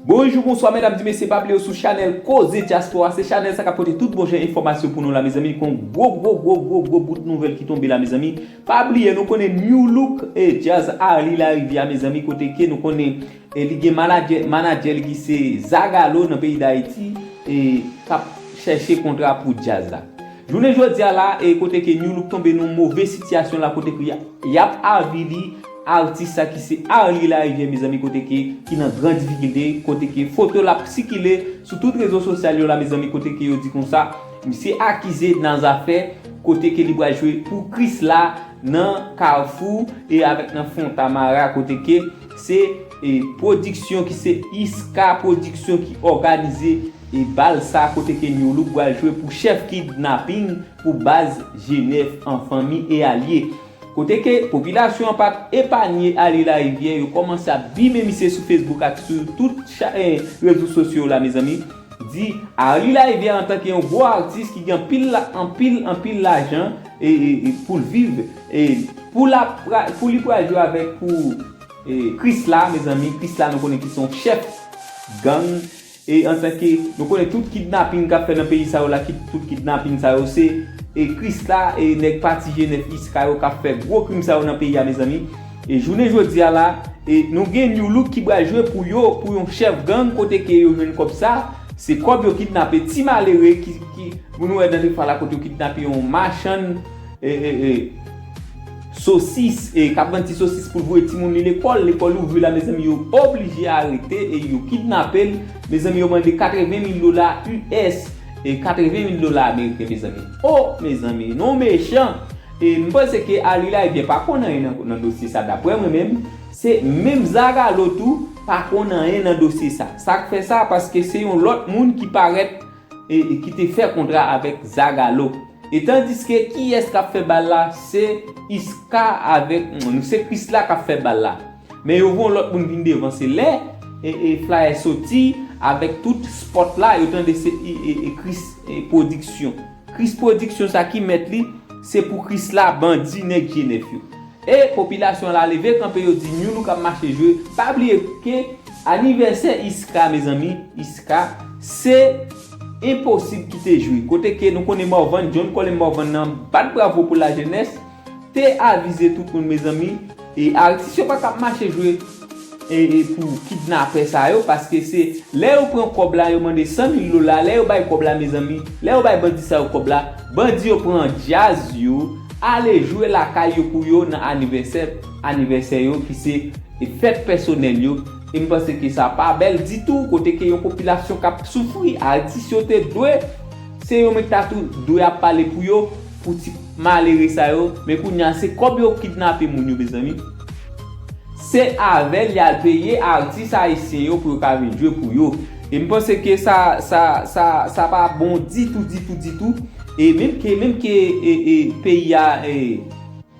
Bonjou bonswa medam di mesye pa bliye sou chanel koze dyaspora se chanel sa kap pote tout bon jan enfòmasyon pou nou la mezanmi gon gwo gwo gwo gwo gwo bout nouvèl ki tonbe la mezanmi pa bliye nou konnen new look e djazz arly lariviere mezanmi kote ke nou konnen e li gen manadjè manadjè li ki se zagalo nan peyi dayiti e kap chèche kontra pou djazz la. Jounen jodia la e kote ke Nu Look tonbe nan move sitiyasyon la kote ke yap avili Atis sa ki se Arly Lariviere mezanmi kote ke ki nan gran difikilte kote ke foto l ap sikile sou tout rezo sosyal yo la mezanmi kote ke yo di konsa misye akize nan zafè kote ke li pral jwe pou Krisla nan Kafou e avèk nan Fontamara kote ke Se pwodiksyon ki se Iska pwodiksyon ki òganize bal sa kote ke Nu Look pral jwe pou chèf kidnaping pou baz Jenèf an fanmi e alye. Kote ke popilasyon an pat epanye alye larivyè yo kòmanse ap bime misye sou Facebook ak sou tout rezo sosyo la mezanmi. di Arly Laivière antanke yon gwo atis ki gen anpil la anpil anpil lajan e e poul viv e pou la pra pou li pral jwe avèk pou e krisla mezanmi krisla nou konnen ki se yon chèf gang e antanke nou konnen tout kidnaping kap fè nan peyi sa yo la ki tout kidnaping sa yo se e krisla e nèg pati jenèf iska yo kap fè gwo krim sa yo nan peyi a mezanmi. E jounen jodi a la e nou gen Nu look ki pral jwe pou yo pou yon chèf gang kote ke yo jwenn kòb sa se kòb yo kidnape ti malere ki ki pou nou wè nan Defra la kote yo kidnape yon machann e e e sosis e kap vann ti sosis poul voye timoun li lekòl lekòl ouvri la mezanmi yo oblije arete e yo kidnapel mezanmi yo mande 80 mil dola us e 80 mil dola ameriken mezanmi oh mezanmi nou mechan E m panse ke Arly Laivien pa konn anyen nan dosye sa daprè mwen menm, se menm Zagalo tou pa konn anyen nan dosye sa. Sak fè sa paske se yon lòt moun ki parèt ki te fè kontra avèk Zagalo. E tandiske kiyès kap fè bal la se Isca avèk se Chrisla kap fè bal la. Men yo voye yon lòt moun vin devan se lè flyer soti avèk tout spot la yo tande se Chris production. Kris prodiksyon sa ki mèt li se pou krisla bandi nèg je nèf yo e popilasyon la leve kanpe yo di nu look ap mache jwe pa bliye ke anivèsè isca mezanmi isca se enposib kite jwe kote ke nou konnen morvan john colem morvan nan bat bravo pou la jenès T avize tout moun mezanmi e artis yo patap mache jwe e pou kidnapè sa yo paske se lè yo pran kòb la yo mande 100 mil dola lè yo bay kòb la mezanmi lè yo bay bandi sa yo kòb la bandi yo pran djaz yo ale jwe lakay yo pou yo nan anivèsè anivèsè yo ki se fèt pèsonèl yo e m panse ke sa pa bèl ditou kote ke yon popilasyon kap soufri artis yo te dwe se yo men ki ta tou dwe ap pale pou yo pou ti Malere sa yo, men kounya se kob yo kidnape moun yo mezanmi. Se avel yal peye artis ayisyen yo pou yo ka vin jwe pou yo. E m panse ke sa sa sa sa pa bon ditou ditou ditou. E menm ke menm ke e e peyi a e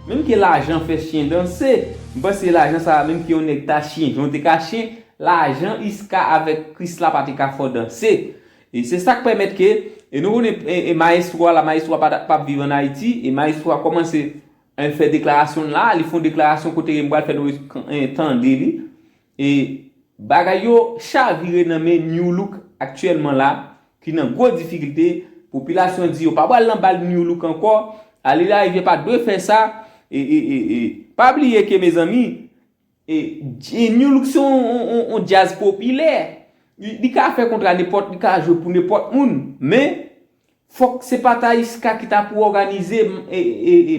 menm ke lajan fè chyen danse. M panse lajan sa menm ke yon nèg ta chyen jan w te ka chyen, lajan Iska avek Krisla pa te ka fè w danse. E se sak pèmèt ke, e nou konnen e maestro a la maestro a pa ta pap viv an Ayiti, e maestro a kòmanse en fè deklarasyon l la, li fon deklarasyon kote ke m pral fè nou en tande li, e bagay yo chavire nan men New Look aktyèlman la, ki nan gwo difikilte, popilasyon di yo pa pral nan bal New Look ankò, Ariel Henry pa dwe fè sa, e e e e pa bliye ke mezanmi, New look se yon djaz popilè, li ka fè kontra nenpòt, li ka jwe pou nenpòt moun, men fòk se pa Talisca ki ta pou òganize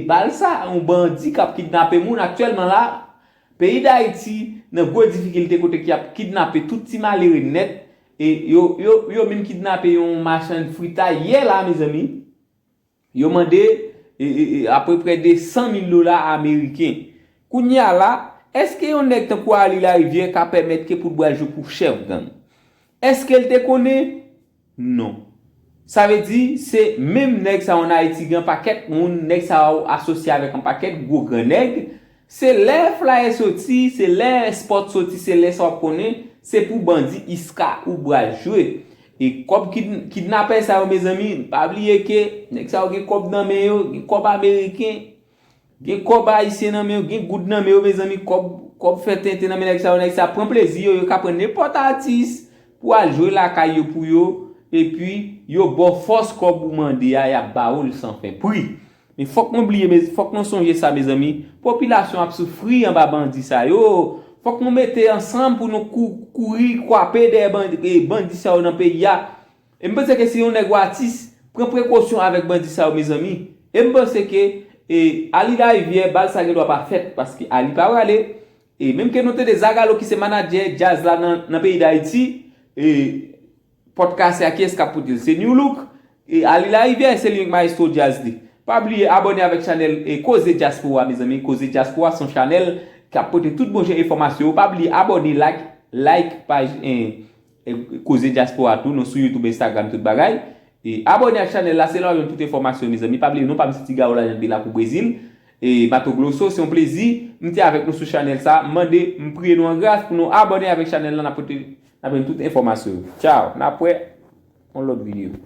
bal sa, yon bandi k ap kidnape moun aktyèlman la, peyi Dayiti nan gwo difikilte kote ki ap kidnape tout ti malere nèt, yo menm kidnape yon machann fritay yè la mezanmi. Yo mande apreprè 200 mil dola ameriken. Kounye a la, èske yon nèg tankou Arly Larivière ka pèmèt ke pou l bral jwe pou chèf gang? Èske l te konnen? Non. Sa vle di, se menm nèg sa yo an Ayiti gen an pakèt moun, nèg sa yo asosye avèk an pakèt gwo gran nèg, Se lè flaye soti se lè spot soti se lè sa wap konnen se pou bandi iska ou bral jwe e kob kidnapè sa yo mezanmi pa bliye ke nèg sa yo gen kob nan men yo gen kob ameriken gen kob ayisyen nan men yo gen goud nan men yo mezanmi kob kob fè tenten nan men nèg sa yo nèg sa pran plezi yo yo ka pran nenpot atis pou al jwe lakay yo pou yo epi yo baw fos kob ou mande a yap bawol san fè pri Men fòk mwen bliye mez fòk mwen sonje sa mezanmi popilasyon ap soufri anba bandi sa yo fòk nou mete ansanm pou nou kou kouri kwape dèyè bandi e bandi sa yo nan peyi a e m panse ke si yon nèg ou atis pran prekosyon avèk bandi sa yo mezanmi e m panse ke e Aly Lariviere bal sa gen dwa pa fèt paske Aly pa prale e menm ke nou tande Zagalo ki se manadjè djaz la nan nan peyi Dayiti e. Pòt kase a kiyès kap potel se Nu look e Arly Lariviere se li menm ki maestro djazz li pa bliye abòne avèk chanèl koze dyaspora mezanmi koze dyaspora son chanèl kap pote tout bon jan enfòmasyon yo pa bliye abòne lak like paj koze dyaspora tou nou sou YouTube Instagram tout bagay abòne ak chanèl la se la wap jwenn tout enfòmasyon mezanmi pa bliye non pam se Tigaro Larian depi lakou brezil. E Bato Gloso, se yon plezi m te avèk nou sou chanèl sa. M mande, m priye nou an gras pou nou abòne avèk chanèl la, n ap pote, n ap jwenn tout enfòmasyon yo. Tchaw, n ap wè yon lòt videyo.